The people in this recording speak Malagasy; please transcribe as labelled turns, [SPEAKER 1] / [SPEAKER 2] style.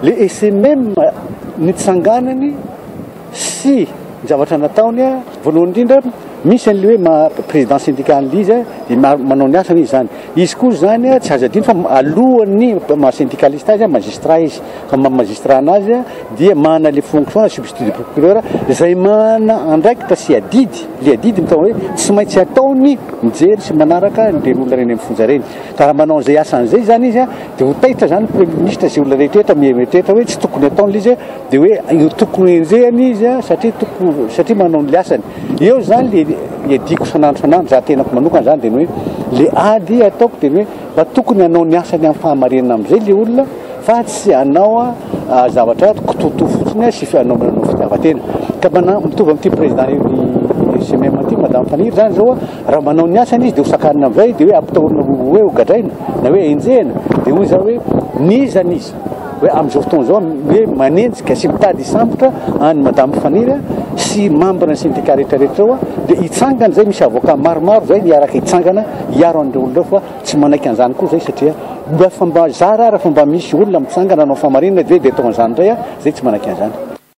[SPEAKER 1] Le SMM nitsanganany. sy ny zavatra nataony voalohany indrindra misy an'ilay hoe maha président syndical ilay izy dia manao ny asany izy izany izy koa izany tsy azo adino fa alohan'ny maha syndicaliste azy magistrat izy fa maha magistrat anazy dia manana ilay fonction na substitut de procureur izay manana andraikitra sy adidy ilay adidy mitao hoe tsy maintsy ataony mijery sy manaraka ireny olona ireny amin'ny fonja ireny ka raha manao izay asany izay izany izy dia ho taitra izany premier ministre sy olona rehetra rehetra mieritreritra hoe tsy tokony ataony ilay izy Dia hoe io tokony enjehina izy a, satria tokony, satria manao ny asany. Eo izany le iadiako san'andro san'andro, za tenako manokana zany dia ny hoe le ady ataoko dia ny hoe mba tokony hanao ny asany amin'ny fahamarinana amin'izay le olona fa tsy hanao a zavatra kitoto fotsiny a sy hanao manao fitiavan-tena. Ka mana- mitovy amin'ity président io CMM ity madame Faniry zany zao a, raha manao ny asany izy dia ho sakanina amin'izay dia hoe ampitahorina ho hoe ho gadraina na hoe enjehina dia hoy za hoe n'iza n'iza. hoe amin'izao fotoana izao hoe manenjika sy mitady hisambotra any madame Faniry sy mambina ny syndicat rehetra rehetra eo dia hitsangana izay misy avocat maromaro izay niaraka hitsangana hiaro an'ireo olona fa tsy manaiky an'izany koa izay satria mba fa mba zara raha fa mba misy olona mitsangana anao famarinana dia dia atao an'izany indray a izay tsy manaiky an'izany